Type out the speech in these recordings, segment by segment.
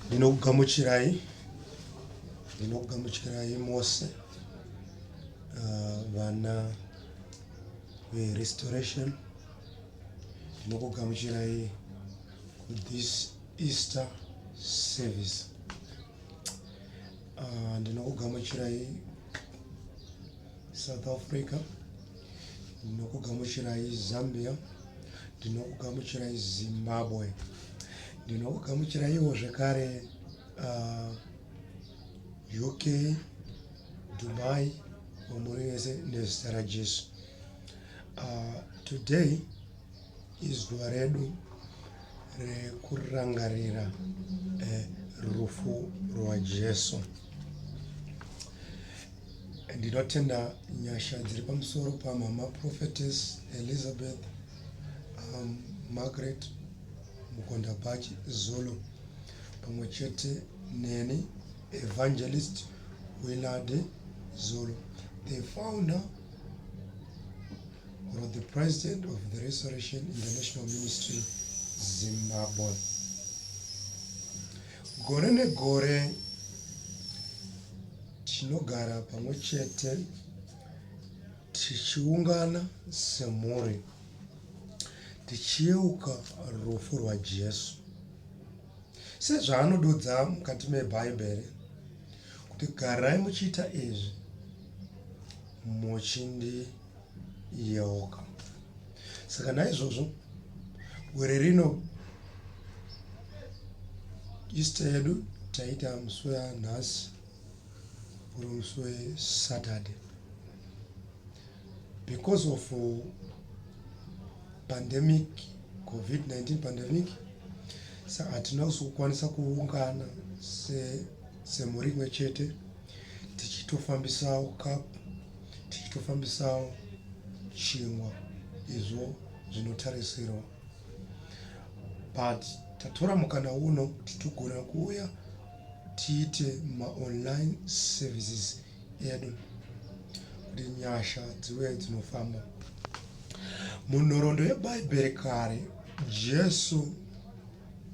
ndinokugamuchirai ndinokugamuchirai mose uh, vana verestoration ndinokugamuchirai this easter service uh, ndinokugamuchirai south africa ndinokugamuchirai zambia ndinokugamuchirai zimbabwe ndinokugamuchiraiwo zvekare uh, uk dubai wamuri vese nezita rajesu uh, today izuva redu rekurangarira eh, rufu rwajesu Ndinotenda nyasha dziri pamusoro pamama prophetess Elizabeth um, Margaret Mukondabhachi Zulu pamwe chete neni Evangelist Willard Zulu the founder or the president of the Restoration International Ministry Zimbabwe gore negore Tinogara pamwe chete tichiungana semhuri tichiyeuka rufu rwaJesu. Sezvaanodudza mukati meBhaibheri kuti garai muchiita izvi muchindiyeuka. Saka naizvozvo gore rino Easter yedu taita musi wanhasi uri musi wesaturday because of uh, pandemic covid-19 pandemic sa hatina kuzokwanisa kuungana semhuri imwe chete tichitofambisawo cup tichitofambisawo chingwa izvo zvinotarisirwa but tatora mukana uno kuti tigona kuuya tiite ma online services edu kuti nyasha dziwe dzinofamba munhoroondo yebhaibheri kare jesu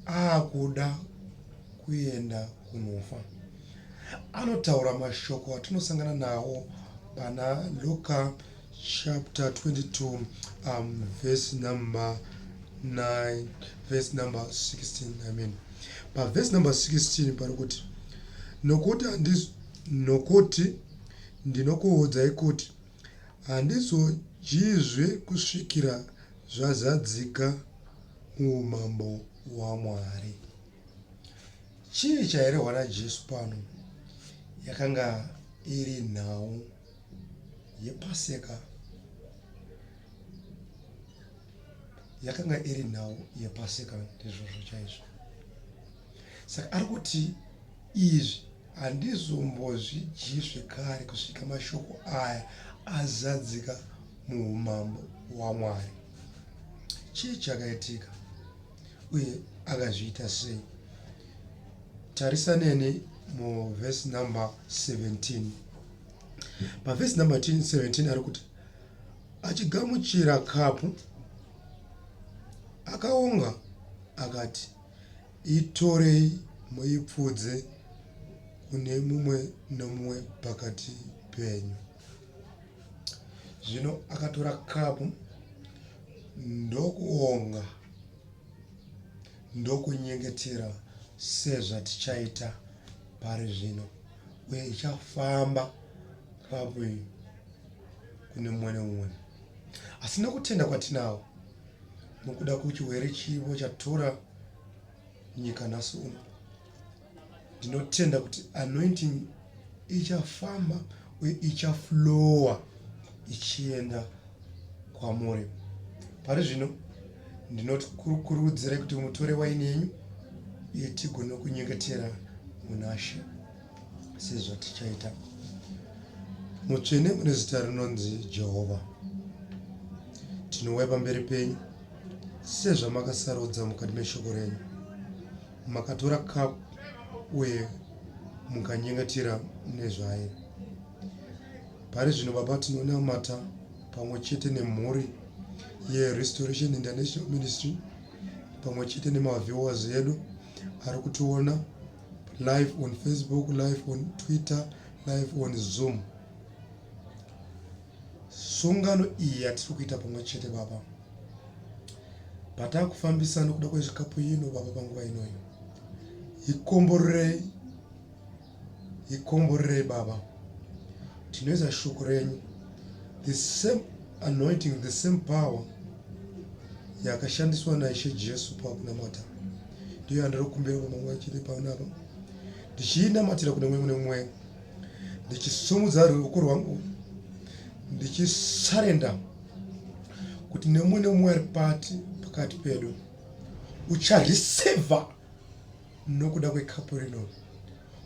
aakuda kuenda kunofa anotaura mashoko atinosangana nawo pana luka chapter 22 um, verse number 9 verse number 16 i mean paverse number 16 pari kuti nokuti handis nokuti ndinokuudzai kuti handizodyizve kusvikira zvazadzika muumambo hwamwari chii chairehwa najesu pano yakanga iri nhau yepaseka yakanga iri nhau yepaseka ndizvozvo chaizvo saka ari kuti izvi handizombozvidyizve kare kusvika mashoko aya azadzika muumambo hwamwari chii chakaitika uye akazviita sei tarisa neni muvhesi number 17 pavhesi number 17 ari kuti achigamuchira kapu akaonga akati itorei muipfudze kune mumwe nomumwe pakati penyu zvino akatora kapu ndokuonga ndokunyengetera sezvatichaita pari zvino uye ichafamba kapu iyi kune mumwe nemumwe asi nokutenda kwatinawo nokuda kwechiwere chivo chatura nyika nhasi uno ndinotenda kuti anointing ichafamba uye ichaflowa ichienda kwamuri pari zvino ndinokurudzirai kuti mutore waini yenyu uye tigone kunyengetera munashe sezvatichaita mutsvene mune zita rinonzi jehovha tinouya pamberi penyu sezvamakasarudza mukati meshoko renyu Makatora cup uye mukanyengetera nezvaye. Pari zvino Baba tinonamata pamwe chete nemhuri yeRestoration International Ministry pamwe chete nemaviewers edu ari kutiona live on Facebook, live on Twitter, live on Zoom. Sungano iyi yatiri kuita pamwe chete Baba, patakufambisa nokuda kwezvikapu ino Baba, panguva inoyi ikomborerei, ikomborerei Baba, tinoisa shoko renyu, the same anointing, the same power yakashandiswa naIshe Jesu pakunamata ndiyo yandiri kumbira pamwe chete panapa ndichiinamatira kune mwe mune mwe ndichisumudza ruoko rwangu ndichisarenda kuti nemumwe nemumwe ari pati pakati pedu ucharisevha nokuda kwekapu rino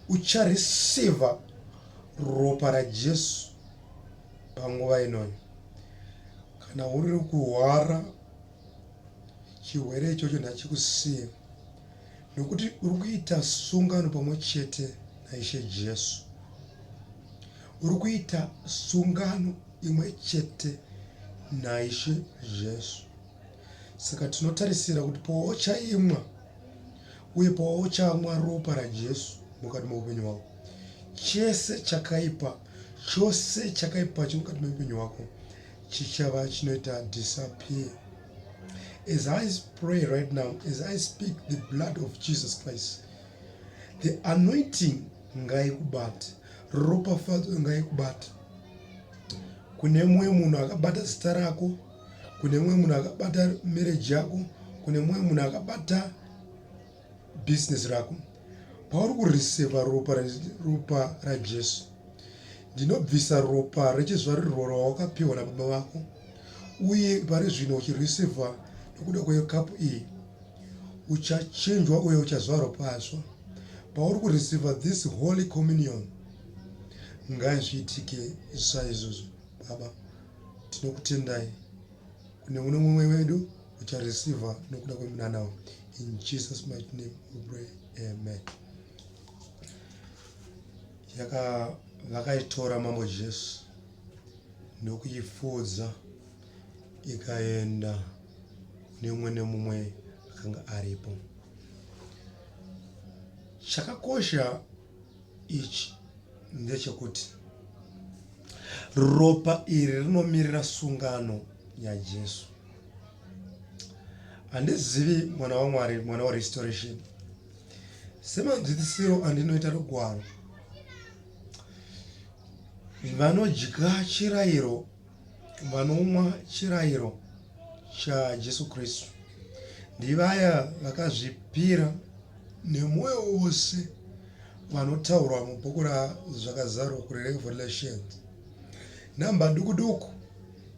ucharisevha ropa rajesu panguva inoyo kana uri kuhwara chirwere ichocho ndachikusiya Nokuti uri kuita sungano pamwe chete naIshe Jesu. Uri kuita sungano imwe chete naIshe Jesu. Saka tinotarisira kuti pauchaimwa uye pauchamwa ropa raJesu mukati meupenyu hwako, chese chakaipa chose chakaipa chiri mukati meupenyu hwako chichava chinoita disappear. As I pray right now, as I speak the blood of Jesus Christ, the anointing ngaikubate, ropafadzo ngaikubate. Kune mumwe munhu akabata zita rako, kune mumwe munhu akabata marriage yako, kune mumwe munhu akabata business rako pauri kuriseva ropa ropa rajesu ndinobvisa ropa rechizvarirwo rawakapiwa nababa vako uye pari zvino uchiriseva nokuda kwekapu iyi uchachinjwa uye uchazvarwa patsva pauri kuriseva this holy communion ngazviitike saizvozvo baba tinokutendai kune uno mumwe wedu uchareceiver nokuda kwemunanawo in jesus might name we pray amen yaka vakaitora mambo jesu nokuifudza ikaenda nemumwe nemumwe akanga aripo chakakosha ichi ndechekuti ropa iri rinomirira sungano yaJesu. Handizivi mwana waMwari, mwana warestoration, semanzwisisiro andinoita rugwaro vanodya chirayiro Vanomwa chirayiro chaJesu Kristu ndivaya vakazvipira nemwoyo wose vanotaurwa mubhuku raZvakazarwa kuRevelations. Nhamba duku duku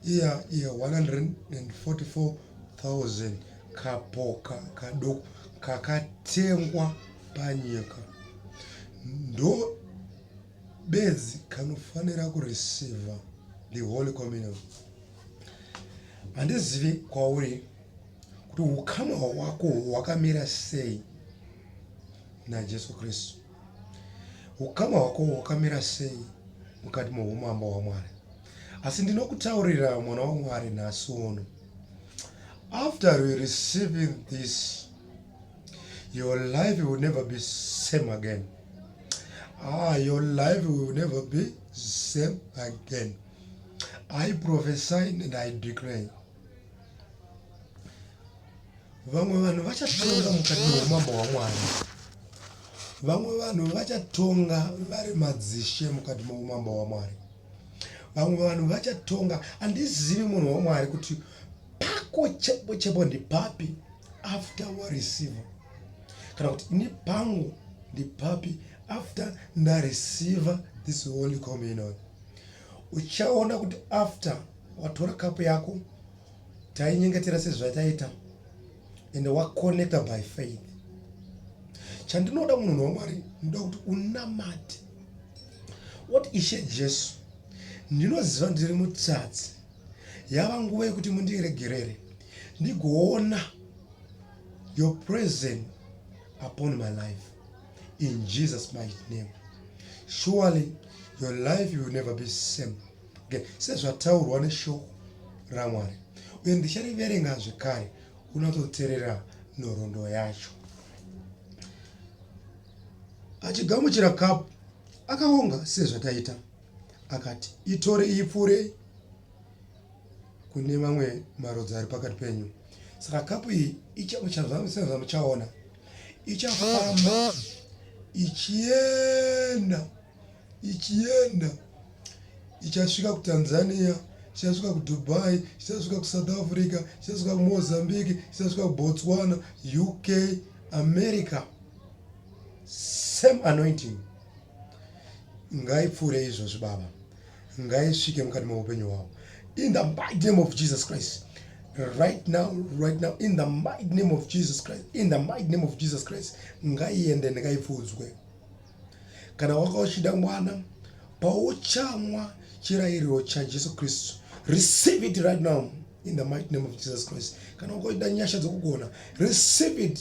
iya ye 144,000 kapoka kaduku kakatengwa panyika ndo bedzi kanofanira kureceiver the holy communion handizivi kwauri kuti ukama hwako hwakamira sei najesu kristu ukama hwako hwakamira sei mukati meumambo hwamwari asi ndinokutaurira mwana wamwari nhasi uno after we receiving this your life will never be same again ah, your life will never be same again i prophesy and i declare vamwe vanhu vachatonga mukati meumambo hwamwari vamwe vanhu vachatonga vari madzishe mukati meumambo hwamwari vamwe vanhu vachatonga handizivi munhu wamwari kuti pako chepo chepo ndipapi after wareceiver kana kuti ini pangu ndipapi after ndareceiva this holy communion uchaona kuti after watora kapu yako tainyengetera sezvataita and waconnecta by faith chandinoda munhu wamwari ndoda kuti unamate what ishe jesu ndinoziva ndiri mutsatsi yava nguva yekuti mundiregerere ndigoona your presence upon my life in Jesus mighty name surely your life will never be same okay. sezvataurwa neshoko ramwari uye ndichariverenga zvekare unototerera nhoroondo yacho achigamuchira kapu akaonga sezvataita akati itore ipfuurei kune mamwe marudzi ari pakati penyu saka kapu iyi ichamuchaona ichafamba ichienda ichienda ichasvika kutanzania ichasvika kudubai ichasvika kusouth africa ichasvika kumozambique ichasvika kubotswana uk america same anointing ngaipfuure izvozvi baba ngaisvike mukati meupenyu hwavo in the mighty name of jesus christ right now right now in the mighty name of jesus christ in the mighty name of jesus christ ngaiende ndikaifudzwe kana waka uchida mwana pauchamwa chirayiriro chajesu kristu receive it right now in the mighty name of jesus christ kana waka uchida nyasha dzokugona receive it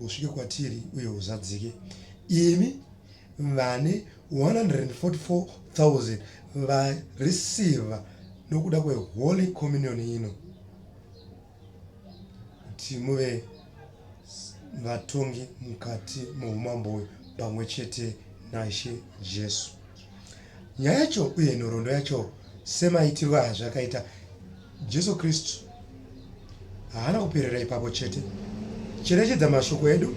usvike kwatiri uye uzadzike imi vane 144000 vareceiva nokuda kweholy communion ino kuti muve vatongi mukati meumambo uyu pamwe chete naishe jesu Nyaya yacho uye nhoroondo yacho semaitirwo azvakaita Jesu Kristu haana kuperera ipapo chete. Cherechedza mashoko edu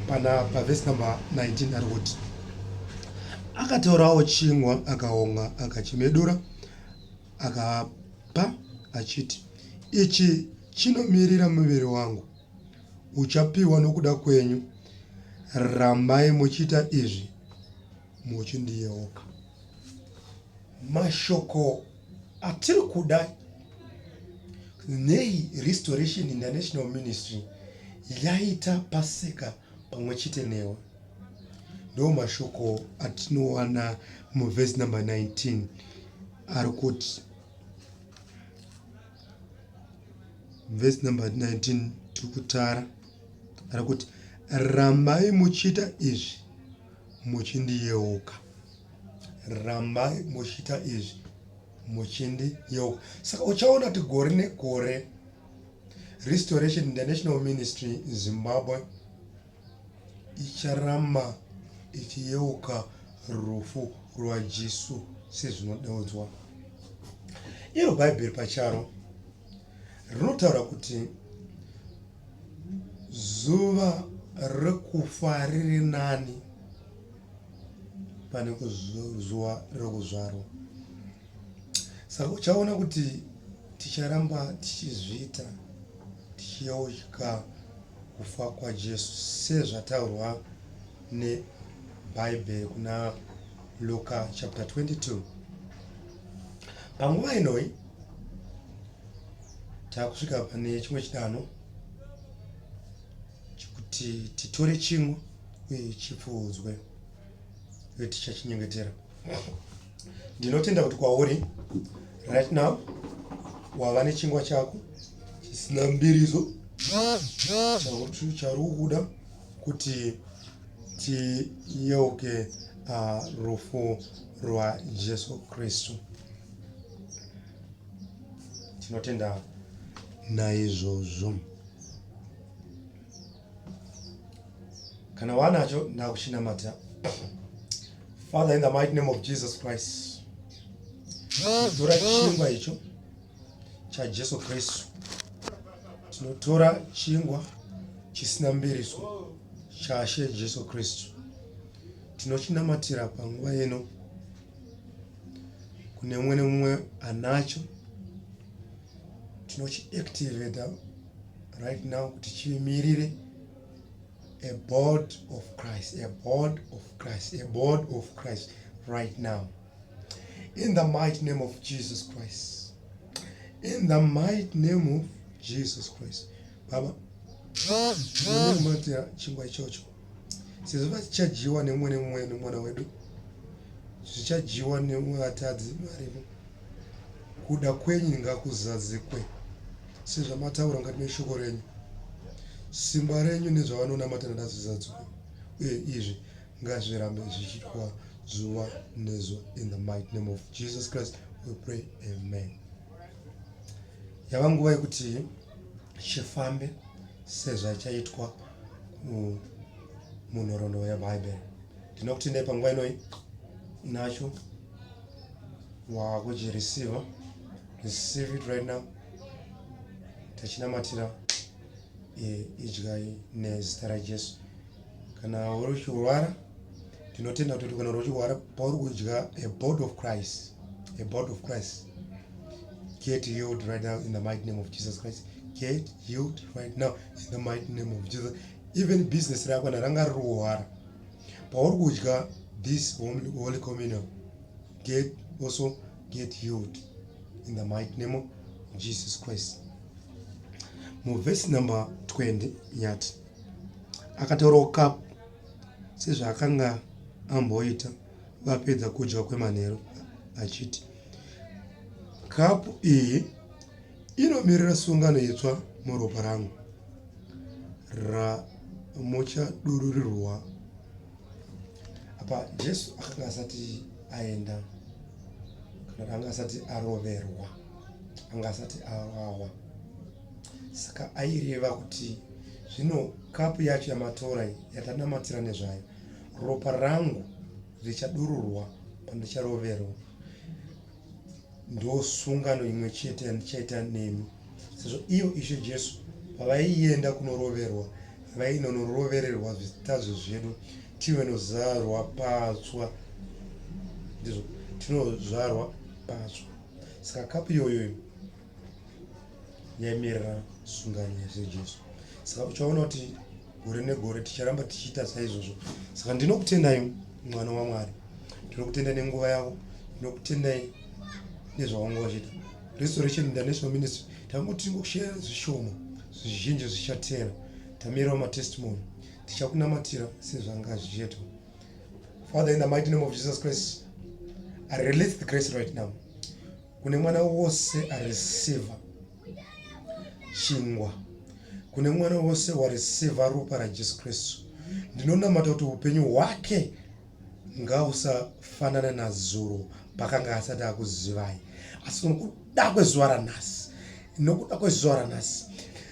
pana pavhesi number 19 ari kuti akatorawo chingwa akaonga akachimedura akapa achiti ichi chinomirira muviri wangu uchapiwa nokuda kwenyu rambai muchiita izvi muchindiyeuka mashoko atiri kuda nei restoration international ministry yaita pasika pamwe chete newe ndo mashoko atinowana muvhesi number 19 ari kuti vhesi number 19 tiri kutara kana kuti rambai muchiita izvi muchindiyeuka rambai muchiita izvi muchindiyeuka saka uchaona kuti gore negore restoration international ministry zimbabwe icharamba ichiyeuka rufu rwajesu sezvinodeudzwa iro bhaibheri pacharo rinotaura kuti Zuva rekufa riri nani pane zuva rekuzvarwa. Saka uchaona kuti ticharamba tichizviita tichiyeuka kufa kwaJesu sezvataurwa neBhaibheri kuna Luka chapter 22. Panguva inoi Takusvika pane chimwe chidanho chekuti titore chimwe uye chipfuudzwe uye tichachinyengetera. Ndinotenda kuti kwauri right now wava nechingwa chako chisina mbiriso chauri kuda kuti tiyeuke ah, rufu rwajesu kristu tinotenda naizvozvo kana wanacho ndakuchinamata father in the mighty name of jesus christ tora chingwa icho chajesu kristu tinotora chingwa chisina mbiriso chashe jesu kristu tinochinamatira panguva ino kune mumwe nemumwe anacho tinochiactivata right now kuti chimirire a board of christ a board of christ a board of christ right now in the mighty name of jesus christ in the mighty name of jesus christ baba unomatira chingwa ichocho sezvo vachadyiwa nemumwe nemumwe nemwana wedu zvichadyiwa nemumwe vatadzi varimo kuda kwenyu ngakuzadzikwe sezvamataura mukati meshoko renyu simba renyu nezvavanonamata nadazvizadzikwe uye izvi ngazvirambe zvichitwa zuva nezuva in the might name of jesus christ we pray amen yava nguva yekuti chifambe sezvachaitwa munhoroondo yebhaibheri ndinokutendai panguva inoi nacho wakuchirisiva receive it right now tachinamatira idyai nezita rajesu kana uri uchirwara tinotenda kuti kana uchirwara pauri kudya a body of christ a body of christ get healed right now in the mighty name of jesus christ get healed right now in the mighty name of jesus even business rako kana ranga riri kuhwara pauri kudya this holy communion get also get healed in the mighty name of jesus christ muvhesi number 20 yati akataurawo kapu sezvaakanga amboita vapedza kudya kwemanheru achiti kapu iyi inomirira sungano itsva muropa rangu ramuchadururirwa apa jesu akanga asati aenda kana anga asati aroverwa anga asati awawa Saka aireva kuti zvino kapu yacho yamatora iyi yatanamatira nezvayo, ropa rangu richadururwa pandicharoverwa. Ndosungano imwe chete yandichaita nemi, sezvo iyo Ishe Jesu pavaienda kunoroverwa vainonorovererwa zvitadzo zvedu tive nozarwa patswa, ndizvo tinozvarwa patswa. Saka kapu iyoyoyo yaimirira sungano yasejesu saka uchaona kuti gore negore ticharamba tichiita saizvozvo saka ndinokutendai mwana wamwari ndinokutendai nenguva yavo ndinokutendai nezvawanga vachiita restoration international ministry tanguti tingoshaya zvishoma zvizhinji zvichateera tamirawo matestimony tichakunamatira sezvanga zvichiitwa father in the mighty name of jesus christ i release the grace right now kune mwana wose areceiva chingwa kune mwana wose wareceiva ropa rajesu kristu ndinonamata kuti upenyu hwake ngausafanana nazuro pakanga asati akuzivai asi nokuda kwezuva ranhasi nokuda kwezuva ranhasi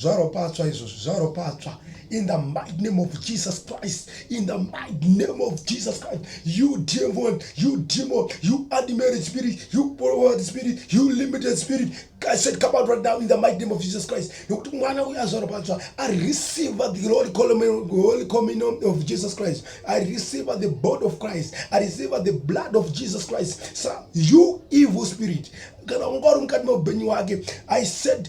zvaropatswa izvozvo zvaropatswa in the mighty name of jesus christ in the mighty name of jesus christ you demon you demon you unmarried spirit you poverty spirit you limited spirit I said, come out right now in the mighty name of Jesus Christ. Nokuti mwana uyu azoropadzwa. I receive the Holy Communion, Holy Communion of Jesus Christ. I receive the body of Christ. I receive the blood of Jesus Christ. So you evil spirit. Kana ungori mukati meupenyu wake. I said,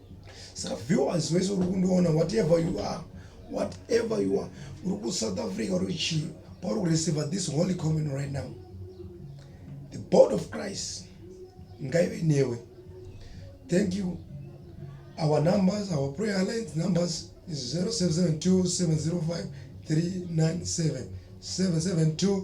saka viewers wese uri kundiona whatever you are whatever you are uri kusouth africa uri chii pauri kureceiver this holy communion right now the board of christ ngaive newe thank you our numbers our prayer alliance numbers is 0772 705 397 772